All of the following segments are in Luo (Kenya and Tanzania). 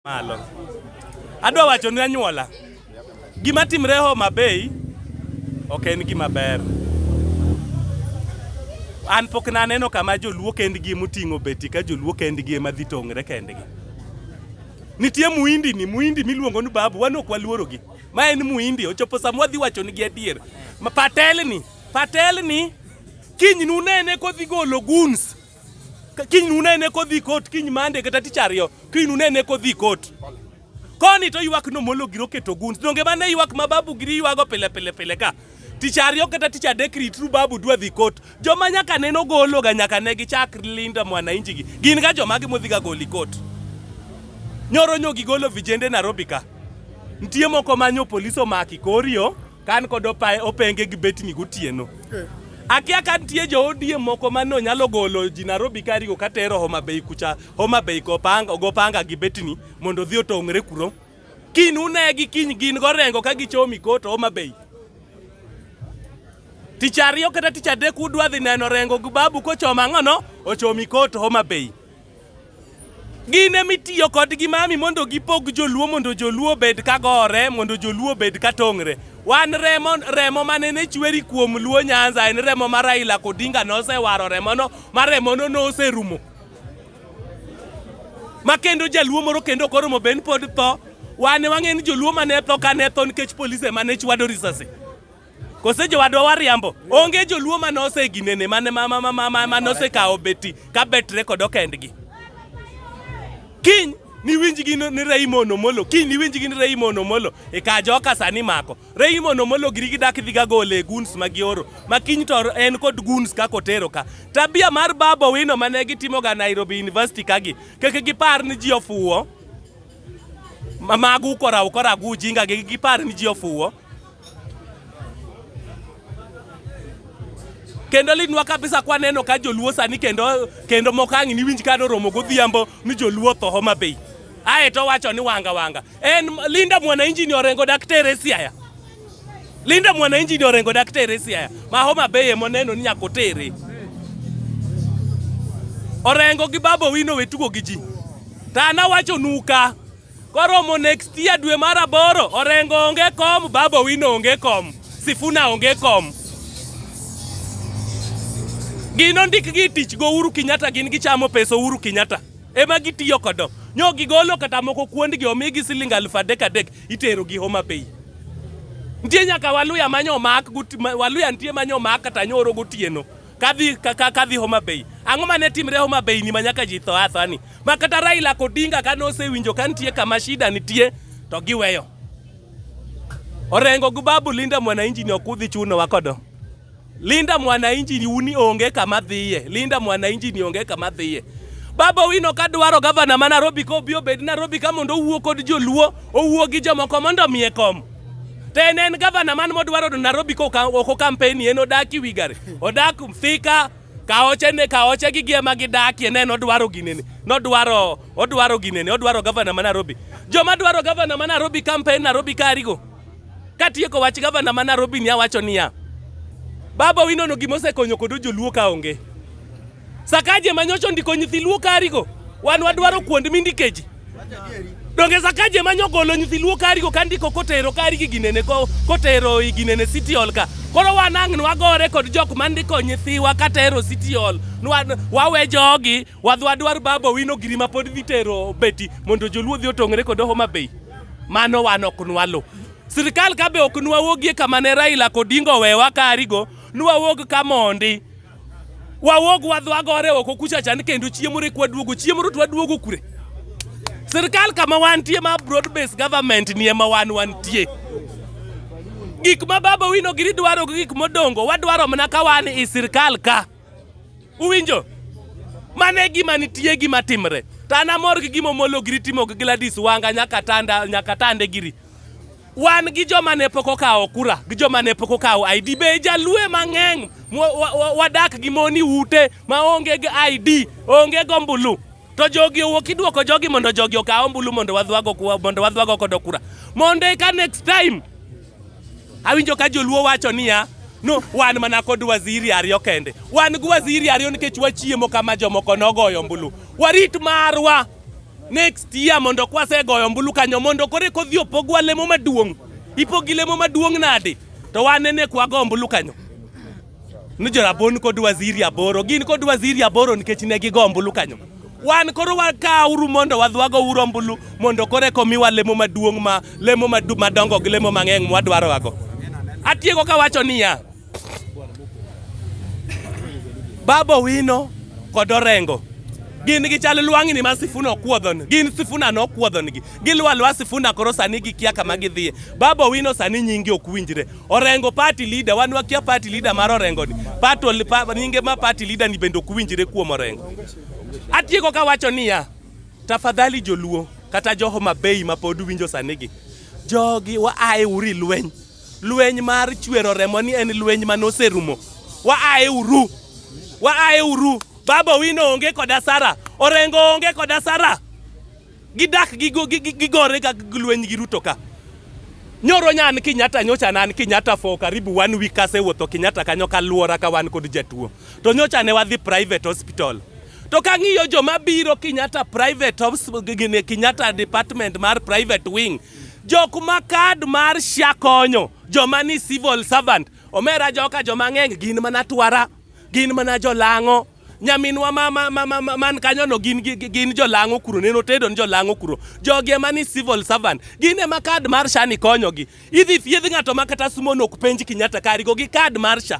malo. Adwa wacho ne anyuola, gima timre Homa Bay ok en gima ber. An pok naneno kama joluo kendgi moting'o beti ka joluo kendgi ema dhi tong're kendgi. Nitie muindi ni muindi miluongo ni babu, wan ok waluorogi. Ma en muindi, ochopo sama wadhi wacho nigi adier. Ma patel ni, patel ni, kiny nunene kodhi golo guns kiny nunene kodhi kot kiny mande kata tich ariyo kiny nunene kodhi kot koni to ywak nomolo giro keto guns donge mane ywak ma babu giri ywago pile pile pile ka tich ariyo kata tich adek ritru babu dwa dhi kot joma nyaka neno gologa nyaka ne gichak linda mwanainji gi gin ga joma gi modhiga goli kot nyoro nyogi golo vijende Nairobi ka nitie moko manyo polisi omaki korio Kan kod opae openge gi betni gotieno. Eh. Akia ka nitie jo ODM moko ma no nyalo golo ji Nairobi ka rigo ka tero Homa Bay kucha, Homa Bay go panga, go panga gi betni mondo dhi otong're kuro. Kin une gi kiny gin go rengo ka gichomi kot Homa Bay. Tich ariyo kata tich adek udwa dhi neno rengo gi babu kochoma ng'ono ochomi kot Homa Bay. Gin ema itiyo kodgi mami mondo gipog joluo mondo joluo obed ka gore mondo joluo obed ka tong're. Wan remo remo mane ne chweri kuom luo Nyanza en remo ma Raila Odinga nosewaro remono ma remono noserumo. Ma kendo jaluo moro kendo ok oromo ben pod tho wane wang'e ni joluo mane tho kane tho nikech polise mane chwado risasi. Kose jowadwa wariambo. Onge joluo ma nose ginene mane ma ma ma ma ma nose kawo beti ka bet record okendgi. Kiny ni winj gi ni Raymond Omolo kiny ni winj gi ni Raymond Omolo e ka joka sani mako Raymond Omolo giri gi dak dhi ga gole guns ma gioro ma kiny to en kod guns ka kotero ka tabia mar babo wino mane gitimo ga Nairobi University kagi keke gipar ni ji ofuwo magu kora ukora gu jinga gi gipar ni ji ofuwo kendo litnwa kabisa kwaneno ka joluo sani kendo kendo mokang' niwinj ka noromo godhiambo ni joluo tho Homa Bay aye to wacho ni wanga wanga en Linda Mwananchi ni orengo daktere Siaya Linda Mwananchi ni orengo daktere Siaya ma Homa Bay moneno ni nyako tere orengo gi babo wino wetugo gi ji tana wacho nuka Koromo next year dwe mar aboro, Orengo onge kom, Babu Owino onge kom, Sifuna onge kom. Gin ondik gi tich go Uhuru Kenyatta gin gichamo pesa Uhuru Kenyatta. Ema gitiyo kodo. Nyo gigolo kata moko kuondgi omigi siling aluf adek adek itero gi Homa Bay. Nitie nyaka Waluya manyo mak, Waluya nitie manyo mak kata nyoro gotieno. kadhi ka- ka- kadhi Homa Bay. Ang'o mane timre Homa Bay ni manyaka ji tho atho ani? Ma kata Raila Odinga kane osewinjo ka nitie kama shida nitie to giweyo. Orengo gi babu Linda Mwananchi ni okudhi chuno wakodo. Linda Mwananchi ni uni onge kama dhiye. Linda Mwananchi ni onge kama dhiye. Baba Owino ka dwaro gavana ma Nairobi ka obi obed Nairobi ka mondo owuo kod joluo, owuo gi jomoko mondo omiye kom. Then en gavana man modwaro do Nairobi ko oko campaign en odaki wigare. Odak Thika kaoche ne kaoche gi giema gi dakie ne nodwaro ginene. Nodwaro odwaro ginene, odwaro gavana ma Nairobi. Joma dwaro gavana ma Nairobi campaign Nairobi karigo. Katieko wach gavana ma Nairobi ni awacho niya. Baba winono gima osekonyo kodo joluo ka onge. Sakaje manyocho ndiko nyithi luo karigo wan wadwaro kuond mindikeji donge sakaje manyo golo nyithi luo karigo kandiko kotero karigi ginene kotero iginene city hall ka koro wan ang' nwagore kod jok mandiko nyithiwa katero city hall wawe jogi wadwadwar babo wino giri ma pod dhi tero beti mondo joluo dhi otong're kod homa bay mano wan ok nwalo sirikal ka be ok nwawuogie kama ne raila kodingo wewa karigo nwawuog ka mondi Wawuog wadhi wagore oko kucha chan kendo chiemo rek waduogo chiemo rut waduogo kure. Sirkal kama wantie ma broad based government ni ema wan wantie. Gik ma baba wino giri dwaro gi gik modongo wadwaro mana ka wan i sirkal ka. Uwinjo? Mane gima nitie gima timre. Tana mor gi gimo molo giri timo gi Gladys Wanga nyaka tanda nyaka tande giri. wan gi joma ne pok okawo kura gi joma ne pok okawo ID be jalue mang'eny wadak gi moni ute ma onge gi ID onge go mbulu to jogi owuok idwoko jogi mondo jogi okawo mbulu mondo wadhwago mondo wadhwago kodo kura mondo eka next time awinjo ka joluo wacho niya no wan mana kod waziri ariyo kende wan gi waziri ariyo nikech wachiemo kama jomoko nogoyo mbulu warit marwa Next year mondo kwasegoyo ombulu kanyo mondo kore kodhi opogwa lemo maduong'. Ipogi lemo maduong' nade? To wan nene kwago ombulu kanyo. Ni jorabon kod waziri aboro gin kod waziri aboro nikech ne gigo ombulu kanyo. Wan koro wakauru mondo wadhwago uru ombulu mondo kore komiwa lemo maduong' ma lemo madongo gi lemo mang'eng' mwadwarowago. Atieko kawacho niya Baba Owino kod Orengo gin gi chal lwang'ni ma Sifuna okuodhon gin Sifuna nokuodhongi gilwa alwa Sifuna koro sani gikia kama gidhiye Baba Owino sani nyingi ok winjre Orengo party leader wan wakia party leader mar Orengo ni party pa, nyinge ma party leader ni bende ok winjre kuom Orengo atieko ka wacho niya tafadhali joluo kata jo Homa Bay ma pod winjo sani gi jogi waaye uri lweny Lweny mar chwero remo ni en lweny ma noserumo. Wa ae uru. Wa ae uru. Baba Owino onge koda Sara. Orengo onge koda Sara. Gidak gigo- gi- gi- gigore ka lweny gi Ruto ka. Nyoro nyan Kenyatta nyocha nan Kenyatta for karibu one week kasewuotho Kenyatta kanyo kaluora ka wan kod jatuo. To nyocha ne wadhi private hospital. To kang'iyo joma biro Kenyatta private hospital, Kenyatta department mar private wing Jok ma kad mar SHA konyo, joma ni civil servant, omera joka joma ng'eny gin mana twara, gin mana jolang'o. Nyaminwa ma, ma, ma, ma, ma, man kanyono gin, gi- gi- gin jolang'o kuro, neno tedo ni jolang'o kuro. Jogi ema ni civil servant, gin ema kad mar SHA ni konyogi. Idhi thiedh ng'ato ma kata sumono ok penj Kenyatta karigo gi kad mar SHA.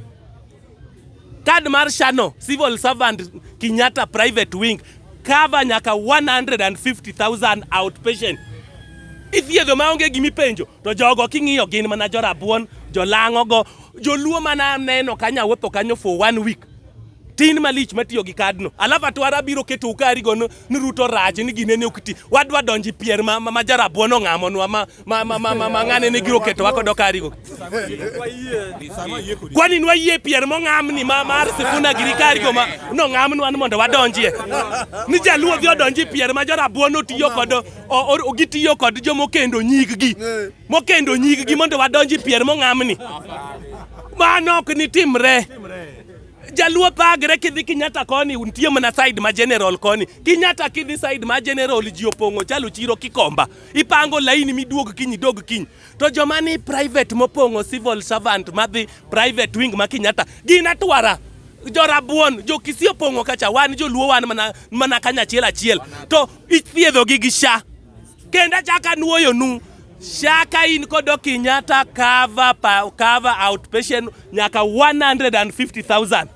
Card mar Shano civil servant Kenyatta private wing cover nyaka 150,000 outpatient. Ithiedho ma onge gimi penjo to jogo king'iyo gin mana jorabuon, jolang'o go, joluo mana neno kanya wuotho kanyo for one week. Tin malich matiyo gi kadno. Alafu atwara biro keto ukari go ni Ruto rach ni ginene okti. Wadwa donji pier ma, ma, ma jarabuon ong'amonwa ma ma ma ma ma ng'ane ne giro keto wako dokari go kwani nwa yie pier mo ng'amni ma mar sifuna giri kari go ma no ng'amni wan mondo wadonjie ni jaluo dhi odonji pier ma jorabuon otiyo kod gitiyo kod jo mokendo nyig gi mokendo nyig gi mondo wadonji pier mo ng'amni mano ok ni timre jaluo pagre kidhi kinyata koni nitie mana side ma general koni kinyata kidhi side ma general ji opong'o chalo chiro kikomba ipango laini miduog kiny idog kiny to joma ni private mopong'o civil servant madhi private wing ma Kenyatta gin atwara jorabuon jokisi opong'o kacha wan joluo wan mana, mana kanyachiel achiel to ithiedhogi gi sha kendo achaka nuoyonu shaka in kodo Kenyatta cover, pa- cover outpatient nyaka 150000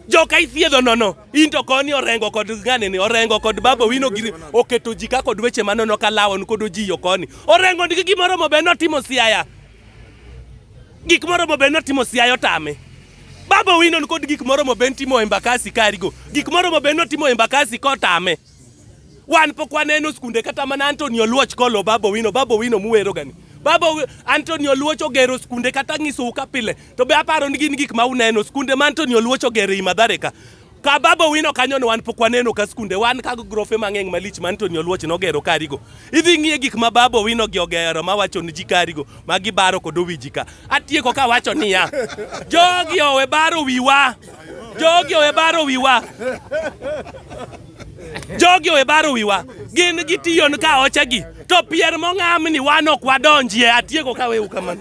joka ithiedho nono into koni orengo kod ngane ni orengo kod babo wino giri oketo ji ka kod weche manono ka lawon kod ojiyo koni orengo ndigi gimoro mo beno timo siaya gik moro mo beno timo siaya otame babo wino kod gik moro mo ben timo embakasi karigo gik moro mo beno timo embakasi kotame Wan pok waneno skunde kata mana Anthony Oluoch kolo Babo Wino, Babo Wino muwero gani. Babo Anthony Oluoch ogero skunde kata ng'iso ka pile. To be aparo ni gin gik ma uneno skunde ma Anthony Oluoch ogero i Madhare ka. Ka Babo Wino kanyo ne wan pok waneno ka skunde wan ka grofe mang'eng malich ma Anthony Oluoch nogero karigo. Idhi ng'iye gik ma Babo Wino gi ogero ma wacho ni ji karigo ma gibaro kod owiji ka. Atieko ka wacho niya. Jogi owe baro wiwa. Jogi owe baro wiwa. Jogi owe baro wiwa. Gin gi tiyo ni ka oche gi. To pier mong'amni wan ok wadonjie atieko ka weu kamano.